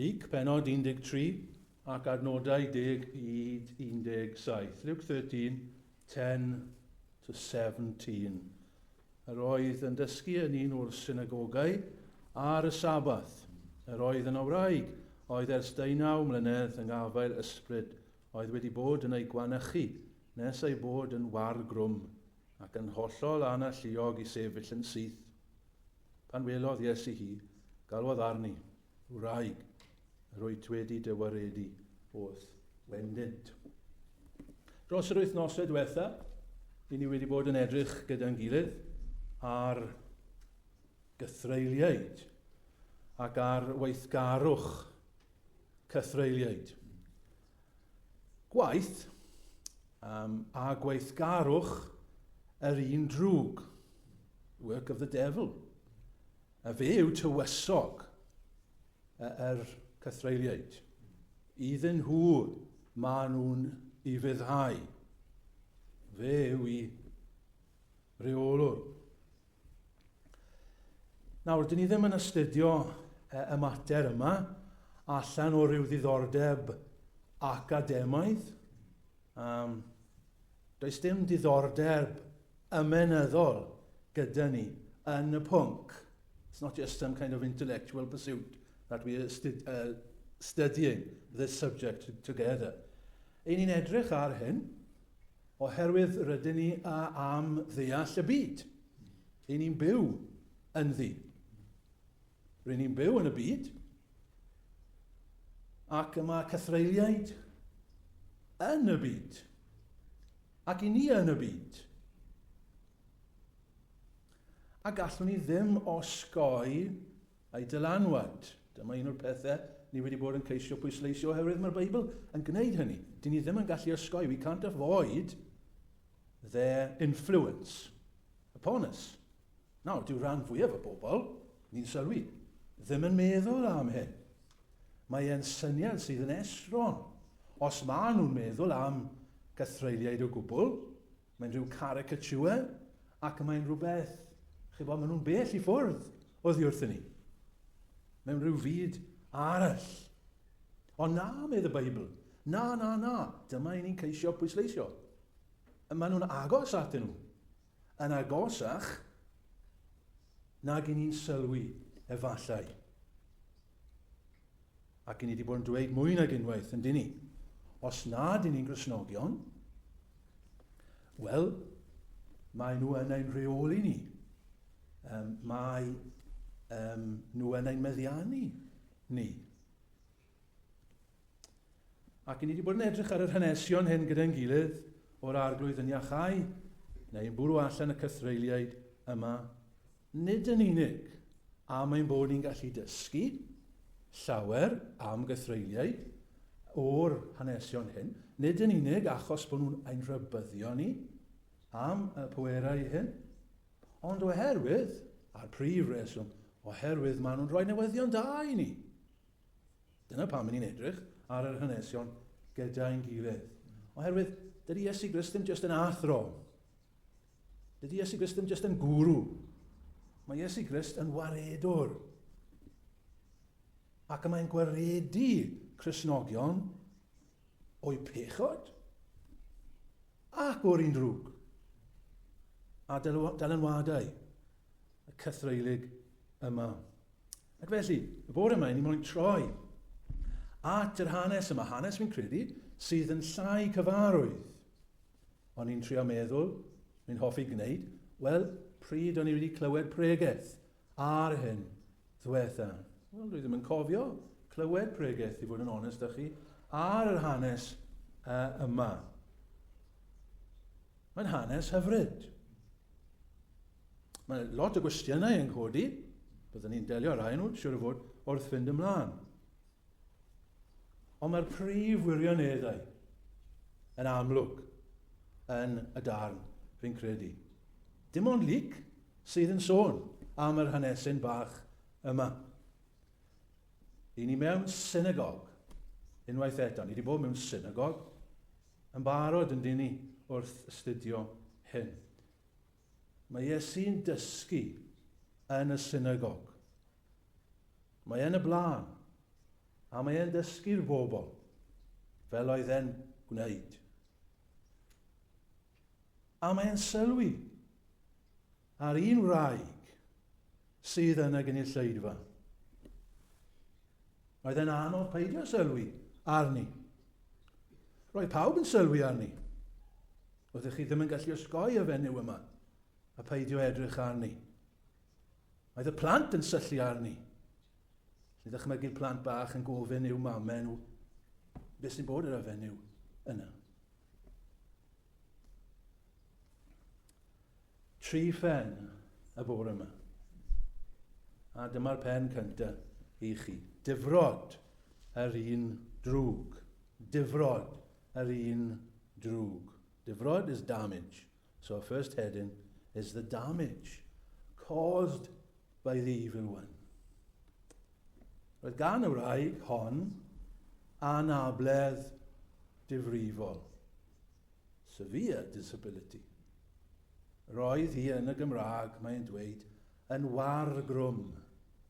Luc, pennod 13 ac adnodau 10 i 17, Luke 13, 10 to 17. Yr oedd yn dysgu yn un o'r synagogau ar y Sabbath. Yr oedd yna wraig, oedd ers deunaw mlynedd yng ngafael ysbryd, oedd wedi bod yn ei gwanychu nes ei bod yn war grwm ac yn hollol analluog i sefyll yn syth. Pan welodd Iesu hi, galwodd arni, Wraig, rwyt wedi dy waredu wrth wendent. Dros yr wythnosau diwetha, i ni wedi bod yn edrych gyda'n gilydd ar gythreiliaid ac ar weithgarwch cythreiliaid. Gwaith um, a gweithgarwch yr un drwg, work of the devil. A fe yw tywysog yr cythreuliaid. Iddyn nhw maen nhw'n i ryddhau. Fe yw i reolwr. Nawr, dyn ni ddim yn astudio e, y mater yma allan o ryw ddiddordeb academaidd. Um, Does dim diddordeb ymenyddol gyda ni yn y pwnc. It's not just some kind of intellectual pursuit that we are stu uh, studying this subject together. Ein ni'n edrych ar hyn oherwydd rydyn ni a am ddeall y byd. Ein ni'n byw ynddi. Ry'n ni'n byw yn y byd, ac y mae cythreiliaid yn y byd, ac i ni yn y byd. A gallwn ni ddim osgoi ei dylanwad. Dyma un o'r pethau ni wedi bod yn ceisio pwysleisio oherwydd mae'r Beibl yn gwneud hynny. Dyn ni ddim yn gallu osgoi, we can't avoid their influence upon us. Nawr, dyw rhan fwyaf y bobl, ni'n sylwi, ddim yn meddwl am hyn. Mae e'n syniad sydd yn estron. Os maen nhw'n meddwl am gythreuliaid o gwbl, mae'n rhyw caricature ac mae'n rhywbeth, chi bod, maen nhw'n bell i ffwrdd oddi wrthyn ni. Mewn rhyw fyd arall. Ond na, medd y Beibl, na, na, na, dyma i ni'n ceisio pwysleisio. Maen nhw'n agos atyn nhw. Yn agosach nag i ni'n sylwi, efallai. Ac i ni wedi bod yn dweud mwy nag unwaith, yn dyn ni. Os nad i ni'n grisnogion, wel, mae nhw yn ein rheoli ni. Um, mae um, nhw yn ein meddiannu ni. Ac ni wedi bod yn edrych ar yr hanesion hyn gyda'n gilydd o'r arglwydd yn iachau neu'n bwrw allan y cythreiliaid yma, nid yn unig am ein bod ni'n gallu dysgu llawer am gythreiliaid o'r hanesion hyn, nid yn unig achos bod nhw'n ein rhybyddio ni am y pwerau hyn, ond oherwydd, a'r prif reswm, oherwydd maen nhw'n rhoi newyddion da i ni Dyna pam ni'n edrych ar yr hanesion gyda'n gilydd. Oherwydd, dydy Iesu Grist ddim jyst yn athro. Dydy Iesu Grist ddim jyst yn gwrw. Mae Iesu Grist yn waredwr. Ac mae'n gwaredu Cresnogion o'i pechod ac o'r un drwg a dylanwadau y cythreulig yma. Ac felly, y bore yma, ni moyn troi at yr hanes yma, hanes fi'n credu, sydd yn llai cyfarwydd. O'n i'n trio meddwl, mi'n hoffi gwneud, wel, pryd o'n i wedi clywed pregeth ar hyn ddwetha. Wel, dwi ddim yn cofio clywed pregeth, i fod yn onest â chi, ar yr hanes uh, yma. Mae'n hanes hyfryd. Mae lot o gwestiynau yn codi, byddwn ni'n delio rai nhw, siwr o fod, wrth fynd ymlaen. Ond mae'r prif wirioneddau yn amlwg yn y darn, fi'n credu. Dim ond Luc sydd yn sôn am yr hanesyn bach yma. I ni mewn synagog, unwaith eto, ni wedi bod mewn synagog yn barod yn dyn ni wrth astudio hyn. Mae Iesu'n dysgu yn y synagog. Mae yn y blaen, a mae e'n dysgu'r bobl, fel oedd e'n gwneud. A mae e'n sylwi ar un wraig sydd yn y gynulleidfa. Oedd e'n anodd peidio sylwi arni. Roedd pawb yn sylwi arni. Oeddech chi ddim yn gallu osgoi y fenyw yma a peidio edrych arni. Oedd y plant yn syllu arni. Lli ddychmygu'r plant bach yn gofyn i'w mamau nhw beth sy'n bod ar y fenyw yna. Tri phen y bore yma. A dyma'r pen cyntaf i chi. Difrod yr un drwg. Difrod yr un drwg. Difrod is damage, so our first heading is the damage caused by the evil one. Roedd gan y wraig hon anabledd difrifol, severe disability. Roedd hi yn y Gymraeg, mae'n dweud, yn wargrwm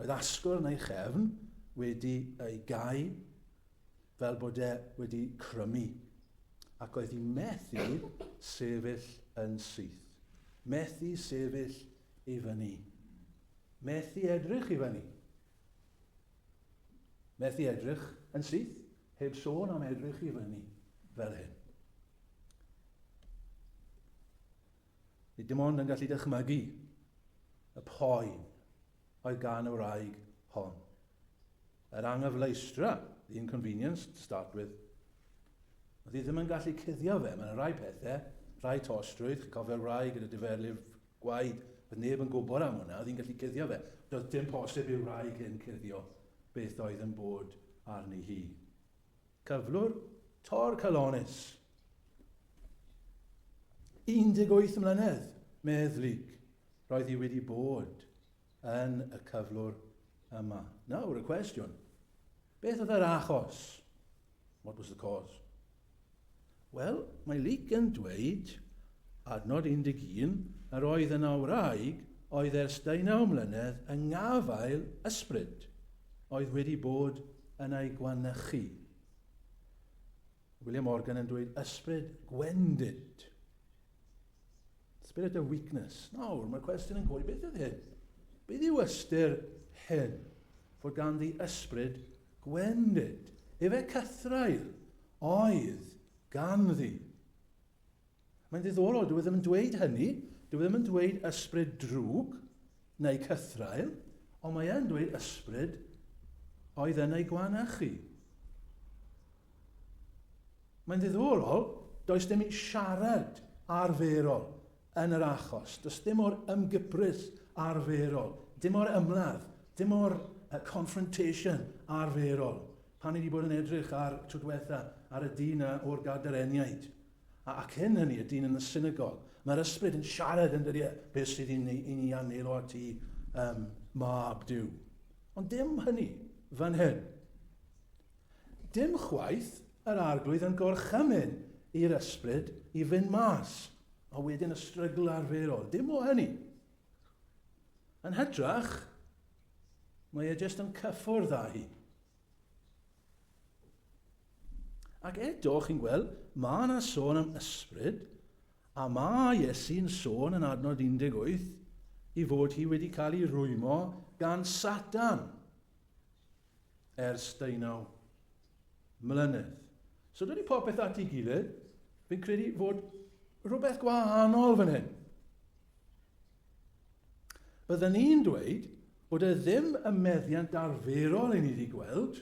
Oedd asgwrn ei chefn wedi ei gau fel bod e wedi crymu, ac oedd hi methu sefyll yn syth. Methu sefyll i fyny. Methu edrych i fyny. Methu edrych yn syth, heb sôn am edrych i fyny, fel hyn. Ni dim ond yn gallu dychmygu y poen oedd gan y wraig hon. Yr anghyfleustra, the inconvenience to start with. Oedd hi ddim yn gallu cuddio fe, mae'n rhai pethau, rhai tostrwydd, chi'n cofio'r wraig gyda diferlu'r gwaed, oedd neb yn gwybod am hwnna, oedd hi'n gallu cuddio fe. Doedd dim posib i'r wraig hyn cuddio beth oedd yn bod arni hi. Cyflwr Tor Calones, 18 mlynedd, medd Luke, roedd hi wedi bod yn y cyflwr yma. Nawr y cwestiwn, beth oedd yr achos? What was the cause? Wel, mae Luc yn dweud, adnod 11, yr oedd yna wraig oedd ers deunaw mlynedd yng ngafael ysbryd oedd wedi bod yn ei gwanychu. William Morgan yn dweud ysbryd gwendid. Spirit of weakness. Nawr, mae'r cwestiwn yn gofyn, beth ydy hyn? Beth yw ystyr hyn? Fod gan ddi ysbryd gwendid. Efe cythraul oedd gan ddi. Mae'n ddiddorol, dwi e ddim yn dweud hynny, dwi e ddim yn dweud ysbryd drwg, Neu cythraul, ond mae e'n dweud ysbryd oedd yn ei gwanachu. Mae'n ddiddorol, does dim siarad arferol yn yr achos. Does dim o'r ymgyprys arferol, dim o'r ymladd, dim o'r uh, confrontation arferol. Pan ni wedi bod yn edrych ar tro diwetha ar y dyn o'r gadareniaid, A, a cyn hynny, y dyn yn y synagog. Mae'r ysbryd yn siarad yn dydi e, beth sydd i ni, i ni am neud o at ti, um, mab Dyw. Ond dim hynny, fan hyn. Dim chwaith yr arglwydd yn gorchymyn i'r ysbryd i fynd mas, a wedyn y strygl arferol. Dim o hynny. Yn hytrach, mae e jyst yn cyffwrdd â hi. Ac eto, chi'n gweld, mae yna sôn am ysbryd, a mae Iesu'n sôn yn adnod 18 i fod hi wedi cael ei rwymo gan Satan ers deunaw mlynedd. So dydy popeth at ei gilydd, fi'n credu fod rhywbeth gwahanol fan hyn. Bydden ni'n dweud bod e ddim yn meddiant arferol i ni wedi gweld.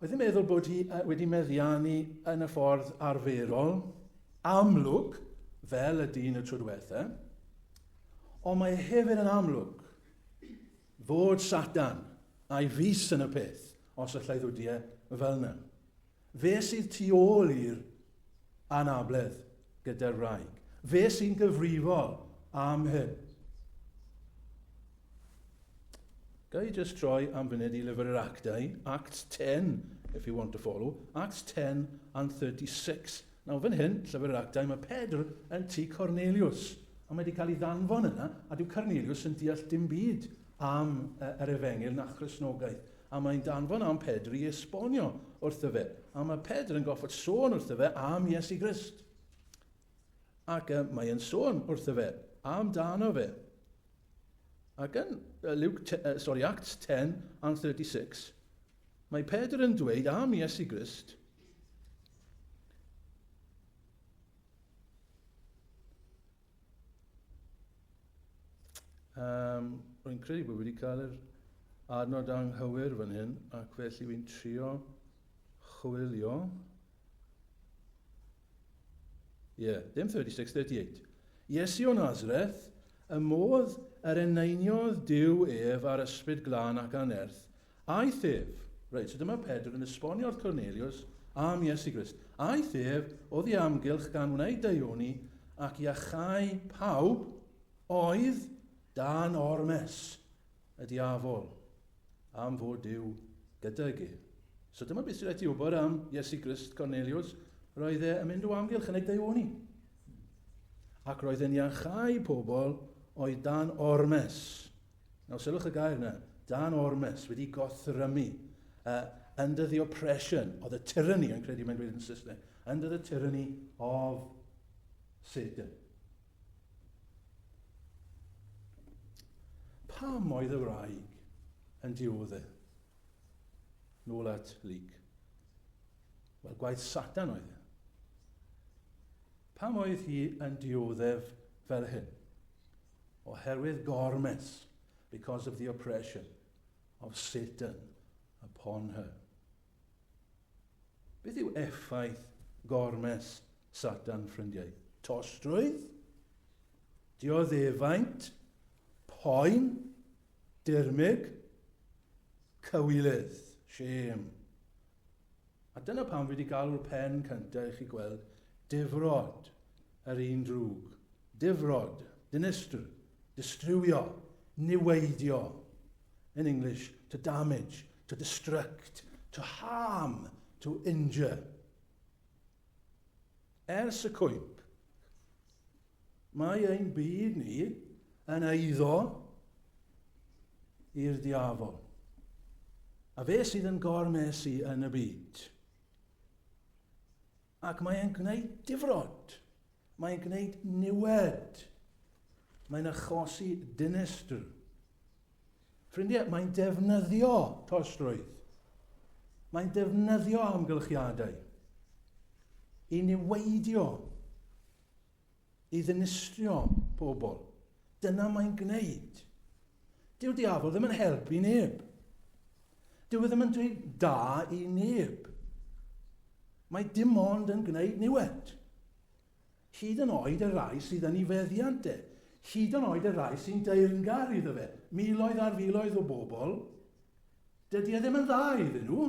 Oedd yn meddwl bod hi wedi meddiannu yn y ffordd arferol, amlwg, fel y dyn y tro diwetha, ond mae hefyd yn amlwg fod Satan a'i fus yn y peth os allai ddwdiau fel yna. Fe sydd tu ôl i'r anabledd gyda'r wraig. Fe sy'n gyfrifol am hyn. Ga i just troi am funud i lyfr yr actau, Acts 10, if you want to follow, Acts 10 and 36. Nawr, fan hyn, llyfr yr actau, mae Pedr yn tu Cornelius, a mae wedi cael ei ddanfon yna, a dyw Cornelius yn deall dim byd am uh, yr efengil na chrysnogaeth. A mae'n danfon am Pedr i esbonio wrtho fe. A mae Pedr yn goffod sôn wrtho fe am Iesu Grist. Ac uh, mae yn sôn wrtho fe am dano fe. Ac yn uh, Luke te, uh, sorry, Acts 10 and 36, mae Pedr yn dweud am Iesu Grist, Um, rwy'n credu bod wedi cael yr adnod anghywir fan hyn, ac felly fi'n trio chwilio. Ie, yeah, dim 36, 38. Iesu o Nazareth, y modd yr eneiniodd Dyw ef ar ysbryd glân ac anerth, Aeth ef. Reit, so dyma Pedr yn esbonio wrth Corneliws am Iesu Grist. Aeth ef oddi amgylch gan wneud deuoni ac iachau pawb oedd dan ormes y diafol am fod Duw gydag e. So dyma beth sy'n rhaid ti wybod am Iesu Grist, Corneliws. Roedd e yn mynd o amgylch yn ei deuoni. Ac roedd e'n iachau pobl oedd dan ormes Nawr, sylwch y gair yna, dan ormes, wedi gothrymu, uh, under the oppression, of the tyranny, yn credu mae'n dweud yn Saesneg, under the tyranny of Satan. Pam oedd y wraig yn diodde? Nôl at Lyc. Wel, gwaith Satan oedd e. Pam oedd hi yn dioddef fel hyn? Oherwydd gormes, because of the oppression of Satan upon her. Beth yw effaith gormes Satan, ffrindiau? Tostrwydd, dioddefaint, poen, dirmyg, cywilydd, shame. A dyna pam fi 'di galw'r pen cynta i chi gweld difrod yr un drwg. Difrod, dinistr, distriwio, niweidio. In English, to damage, to destruct, to harm, to injure. Ers y cwymp, Mae ein byd ni yn eiddo i'r diafol. A fe sydd yn gormesu yn y byd. Ac mae'n gwneud difrod. Mae'n gwneud niwed. Mae'n achosi dinestr. Ffrindiau, mae'n defnyddio tostrwydd. Mae'n defnyddio amgylchiadau i niweidio i ddinistrio pobl. Dyna mae'n gwneud. Dyw diafol ddim yn helpu neb. Dyw e ddim yn dweud da i neb. Mae dim ond yn gwneud niwed. Hyd yn oed y rai sydd yn ei feddiant e. Hyd yn oed y rai sy'n deyrngar iddo fe. Miloedd ar filoedd o bobl. Dydy e ddim yn dda iddyn nhw.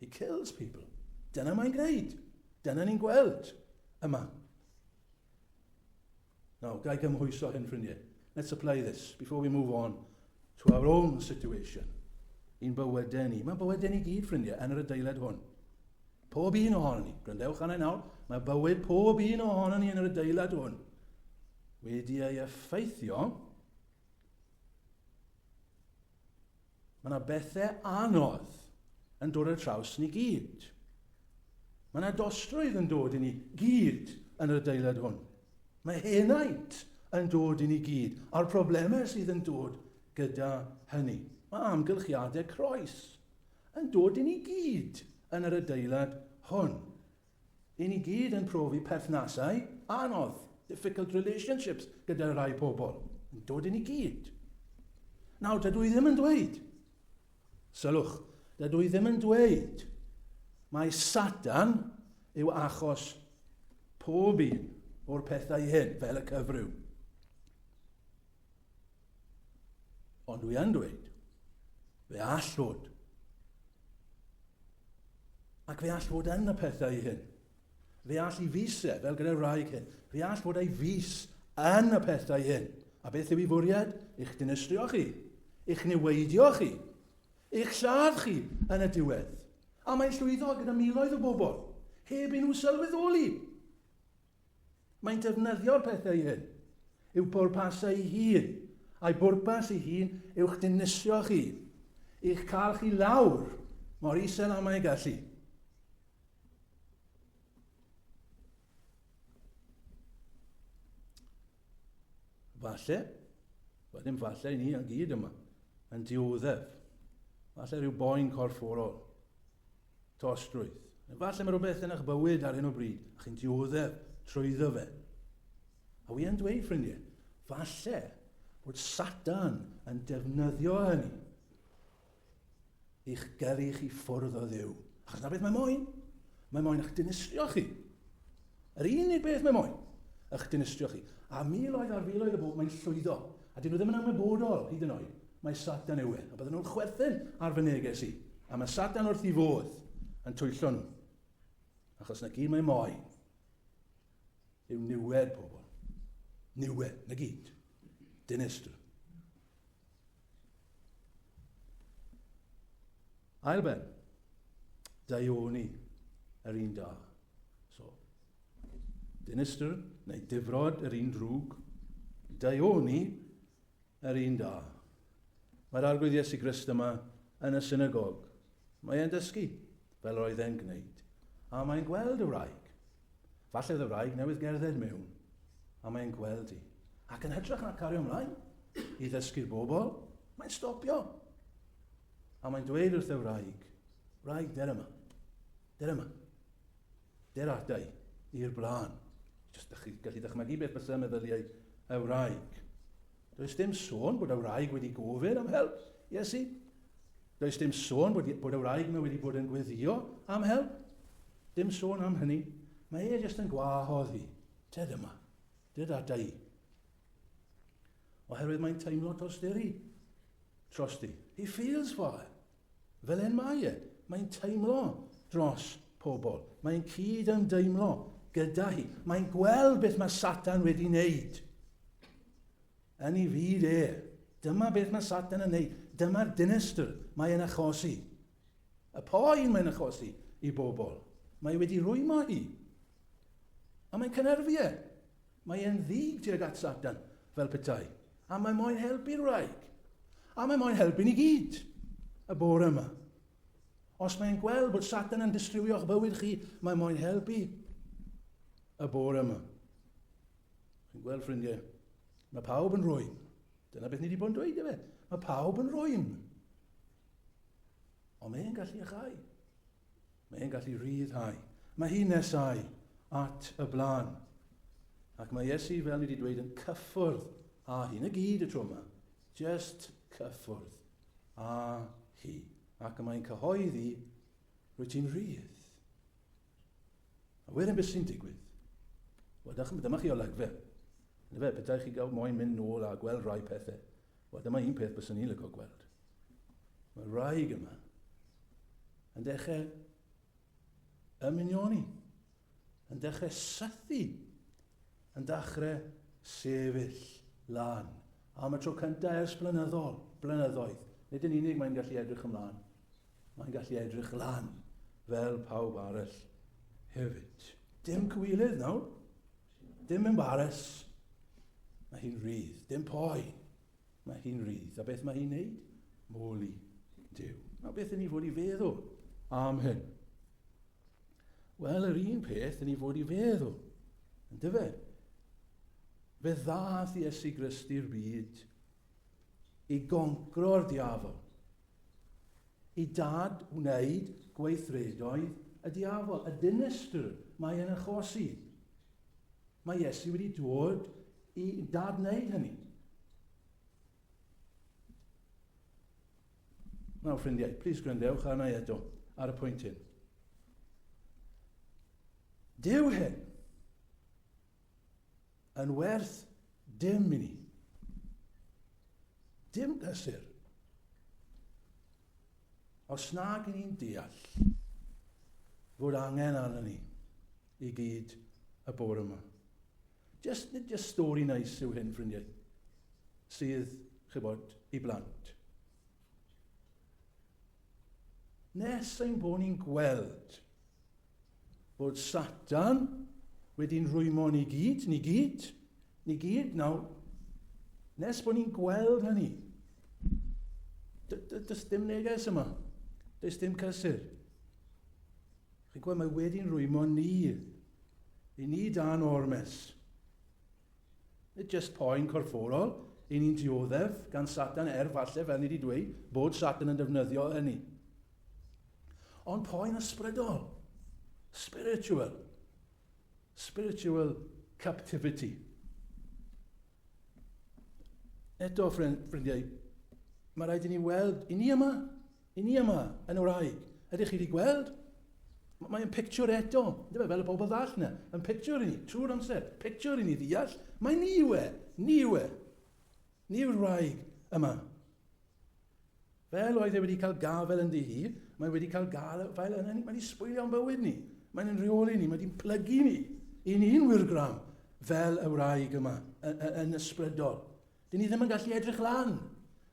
He kills people. Dyna mae'n gwneud. Dyna ni'n gweld yma. Nawr, gael gymhwyso hyn, ffrindiau. Let's apply this before we move on to our own situation. I'n bywydau ni. Mae bywydau ni gyd, ffrindiau, yn yr adeilad hwn. Pob un ohono ni. Gwrandewch arna i nawr. Mae bywyd pob un ohono ni yn yr adeilad hwn. Wedi ei effeithio Mae yna bethe anodd yn dod ar draws ni gyd. Mae yna dostrwydd yn dod i ni gyd yn yr adeilad hwn. Mae henaint yn dod i ni gyd, a'r problemau sydd yn dod gyda hynny. Mae amgylchiadau croes yn dod i ni gyd yn yr adeilad hwn. Ry' ni gyd yn profi perthnasau anodd, difficult relationships, gyda rhai pobl, yn dod i ni gyd. Nawr, dydw i ddim yn dweud, sylwch, dydw i ddim yn dweud mai Satan yw achos pob un o'r pethau hyn, fel y cyfryw. Ond dwi yn dweud, fe all fod. Ac fe all fod yn y pethau i hyn. Fe all i fusau, fel gyda'r wraig hyn, fe all fod ei fus yn y pethau hyn. A beth yw i fwriad? Eich dinistrio chi, eich niweidio chi, eich lladd chi yn y diwedd. A mae'n llwyddo gyda miloedd o bobl, heb i nhw sylweddoli. Mae'n defnyddio'r pethau hyn i'w bwrpasau ei hun, a'i bwrpas ei hun yw'ch dinusio chi, i'ch cael chi lawr mor isel am ei gallu. Falle, wel ddim falle i ni a gyd yma, yn dioddef. Falle rhyw boen corfforol. Trosglwydd. Efallai mae rhywbeth yn eich bywyd ar hyn o bryd a chi'n dioddef trwyddo fe. A wi yn dweud, ffrindiau, falle bod Satan yn defnyddio hynny i'ch gyrru chi ffwrdd o ddew. Achos na beth mae moyn? Mae moyn eich dinistrio chi. Yr unig beth mae moyn, ych dinistrio chi, a miloedd ar filoedd o bobl mae'n llwyddo, a dyn nhw ddim yn ymwybodol, hyd yn oed, mai Satan yw e, a bydden nhw'n chwerthin ar fy neges i, a mae Satan wrth i fodd yn twyllo nhw. Achos na gyd mae moyn yw niwed pobl. Niwed, na gyd. Dinistr. Ail ben, daioni yr un da. So, dinistr neu difrod yr un drwg, daioni yr un da. Mae'r arglwydd Iesu Grist yma yn y synagog. Mae e'n dysgu, fel roedd e'n gwneud. A mae'n gweld y wraig, Falle oedd y wraig newydd gerdded mewn, a mae e'n gweld i, ac yn hytrach na cario ymlaen i ddysgu'r bobl, mae'n stopio. A mae'n dweud wrth y wraig, wraig, der yma, der yma, der adau i'r blaen. Just ydych chi gallu dychmygu beth bysa meddyliau y wraig. Does dim sôn bod y wraig wedi gofyn am help, Iesu. Does dim sôn bod, bod y wraig yma wedi bod yn gweddio am help. Dim sôn am hynny. Mae e jyst yn gwahodd fi. Te dyma. Te data i. Oherwydd mae'n teimlo tosteri. Trosti. He feels for her. Fel hyn mae e. Mae'n teimlo dros pobl. Mae'n cyd ymdeimlo gyda hi. Mae'n gweld beth mae Satan wedi wneud. Yn ei fyd e. Dyma beth mae Satan yn wneud. Dyma'r dinestr mae yn achosi. Y poen mae'n achosi i bobl. Mae wedi rwymo hi. A mae'n cynerfu e. Mae e'n ddig tuag at Satan, fel petai, a mae moyn helpu'r wraig. A mae moyn helpu ni gyd, y bore yma. Os mae'n gweld bod Satan yn distriwio'ch bywyd chi, mae moyn helpu y bore yma. Chi'n gweld, ffrindiau, mae pawb yn rwy'n. Dyna beth ni wedi bod yn dweud, efe. Mae pawb yn rwy'n. Ond mae'n gallu achau. Mae e'n gallu rhyddhau. Mae hi'n nesáu at y blaen. Ac mae Iesu, fel ni wedi dweud, yn cyffwrdd â hi. Na gyd y tro yma. Just cyffwrdd â hi. Ac y mae'n cyhoeddi, rwy ti'n rhydd. A wedyn beth sy'n digwydd? Wel, dyma chi olygfa. Fe, bydau chi gael moyn mynd nôl a gweld rhai pethau. Wel, dyma un peth byswn i'n lygo gweld. Mae'r wraig yma yn dechrau ymunioni, yn dechrau sythu, yn dechrau sefyll lan. Am y tro cyntaf ers blynyddol, blynyddoedd. Nid yn unig mae'n gallu edrych ymlaen, mae'n gallu edrych lan fel pawb arall hefyd. Dim cywilydd nawr. Dim embares, mae hi'n rydd. Dim poen, mae hi'n rydd. A beth mae hi'n neud? Moli Dyw. A beth yn ni fod i feddwl am hyn? Wel, yr un peth yn ni fod i feddwl, yn dyfe? Fe ddath Iesu Grist i'r byd i goncro'r diafol Y dad wneud gweithredoedd y diafol, y dinistr mae e'n achosi. Mae Iesu wedi dod i dad wneud hynny. Nawr, ffrindiau, plis gwrandewch arna i eto ar y pwynt hyn. Dyw hyn yn werth dim i ni. Dim pleser. Os nag yn ni'n deall fod angen arno ni i gyd y bore yma. Just, nid just stori nais yw hyn, ffrindiau, sydd, chybod, i blant. Nes ein bod ni'n gweld Bod Satan wedi'n rwymo ni gyd, ni gyd, ni gyd. Nawr, nes bod ni'n gweld hynny, does dim neges yma. Does dim cysur. Chi'n gweld, mae wedi'n rwymo ni. I ni dan ormes. Nid jyst poen corfforol y'n ni'n dioddef gan Satan er falle, fel ni wedi dweud, bod Satan yn defnyddio hynny. Ond poen ysbrydol, spiritual, spiritual captivity. Eto, ffrindiau, mae rhaid i ni weld, i ni yma, I ni yma yn y wraig, ydych chi wedi gweld? M mae'n pictiwr eto, yndyfe, fel y bobl ddall na, yn pictiwr i ni, trwy'r amser, pictiwr i ni ddeall, mae ni yw e, ni yw e, ni yw'r wraig yma. Fel oedd e wedi cael gafel yn ddi hi, mae wedi cael gafael yna ni, mae wedi sbwylio'n bywyd ni, mae'n yn rheoli ni, mae wedi'n plygu ni, i ni'n wirgram, fel y wraig yma, yn, yn ysbrydol. Dyn ni ddim yn gallu edrych lan.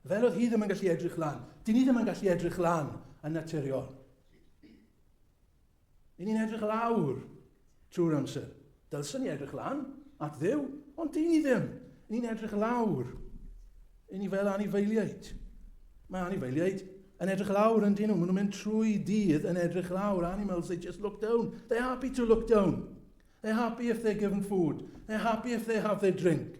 Fel oedd hi ddim yn gallu edrych lan. Dyn ni ddim yn gallu edrych lan yn naturiol. Dyn ni'n edrych lawr trwy'r amser. Dylsyn ni edrych lan at ddew, ond dyn ni ddim. Ni'n edrych lawr. Dyn ni fel anifeiliaid. Mae anifeiliaid yn edrych lawr yn dyn nhw. Maen nhw'n mynd trwy dydd yn edrych lawr. Animals, they just look down. They're happy to look down. They're happy if they're given food. They're happy if they have their drink.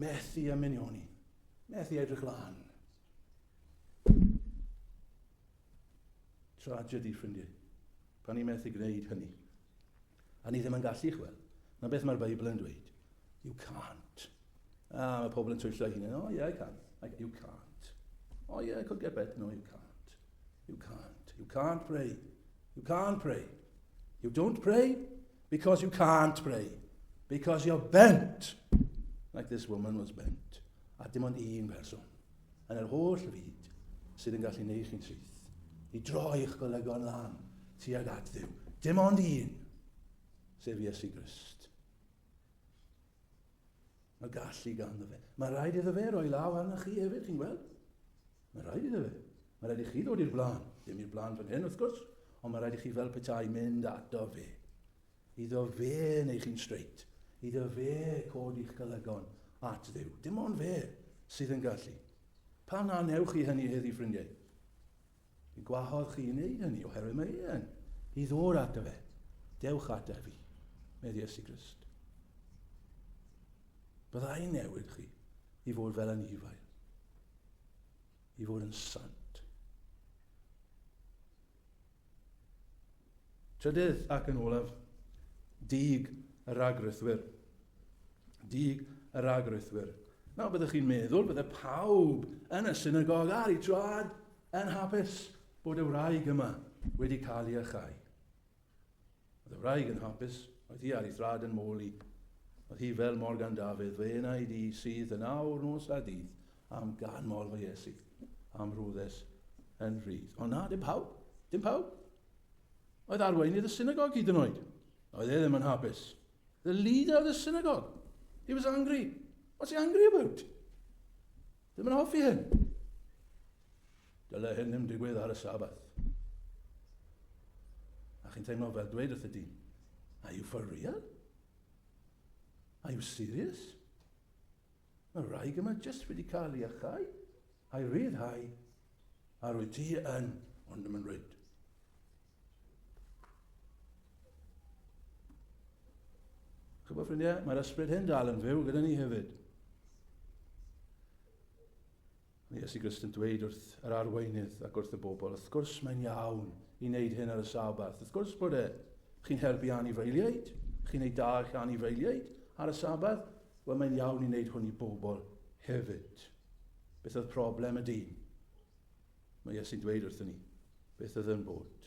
Methu ymuno ni. Methu edrych lan. Tragedy, ffrindiau. Pan ni methu gwneud hynny. A ni ddim yn gallu, chwel. Na beth mae'r Beibl yn dweud. You can't. Ah, mae pobl yn twyllo ei hunain. Oh, yeah, I can. I, you can't. Oh, yeah, I could get better. No, you can't. You can't. You can't pray. You can't pray. You don't pray because you can't pray. Because you're bent. Like this woman was bent. A dim ond un person. Yn yr holl fyd sydd yn gallu neud chi'n syth. I droi eich golygon lan tuag at ddiw. Dim ond un. Sef Iesu Grist. Mae gallu ganddo fe. Mae rhaid iddo fe roi law arnoch chi hefyd, chi'n gweld? Mae rhaid iddo fe. Mae rhaid i chi ddod i'r blaen. Ddim i'r blaen fan hyn, wrth gwrs, ond mae rhaid i chi fel petai mynd ato fe. Iddo fe neu chi'n straight. Iddo fe codi'ch golygon at ddew. Dim ond fe sydd yn gallu. Pam na newch chi hynny heddi, ffrindiau? Y gwahodd chi i wneud hynny, oherwydd mae e'n i ddod ato fe. Dewch ato fi, meddwl Iesu Grist. Byddai newid chi i fod fel yn ifael, i fod yn sant. Trydydd ac yn olaf, dug y rhagrithwyr. Dug y rhagrithwyr. Nawr byddwch chi'n meddwl bydde pawb yn y synagog ar ei traed yn hapus bod y wraig yma wedi cael ei achau. Oedd y wraig yn hapus, oedd hi ar ei thrad yn môl i. Oedd hi fel Morgan Dafydd, fe yna i di sydd yn awr nos a dydd, am gan mor fy Iesu, am rwddes yn rhydd. Ond na, dim pawb, dim pawb. Oedd arweinydd y synagog hyd yn oed. Oedd e ddim yn hapus. The leader of the synagogue. He was angry. What's he angry about? Ddim yn hoffi hyn. Dyle hyn ddim digwydd ar y sabath. A chi'n teimlo fel dweud wrth y dyn, are you for real? Are you serious? Mae wraig yma jyst wedi cael ei achau, a'i ryddhau, a rwyt ti yn, ond ddim yn rwyd. Chybod ffrindiau, mae'r ysbryd hyn dal yn fyw gyda ni hefyd. Mae Iesu Grist yn dweud wrth yr arweinydd ac wrth y bobl, wrth gwrs mae'n iawn i wneud hyn ar y Sabath. Wrth gwrs bod e. Chi'n helpu anifeiliaid, chi'n ei dal chi anifeiliaid ar y Sabath. Wel, mae'n iawn i wneud hwn i bobl hefyd. Beth oedd problem y dyn? Mae Iesu'n dweud wrthyn ni beth oedd yn bod.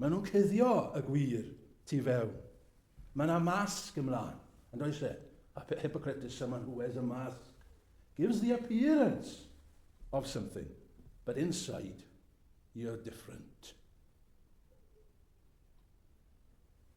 Maen nhw'n cuddio y gwir tu fewn. Mae yna masg ymlaen, yn does e? A pe hypocritus yma nhw as a masg. Gives the appearance of something, but inside you're different.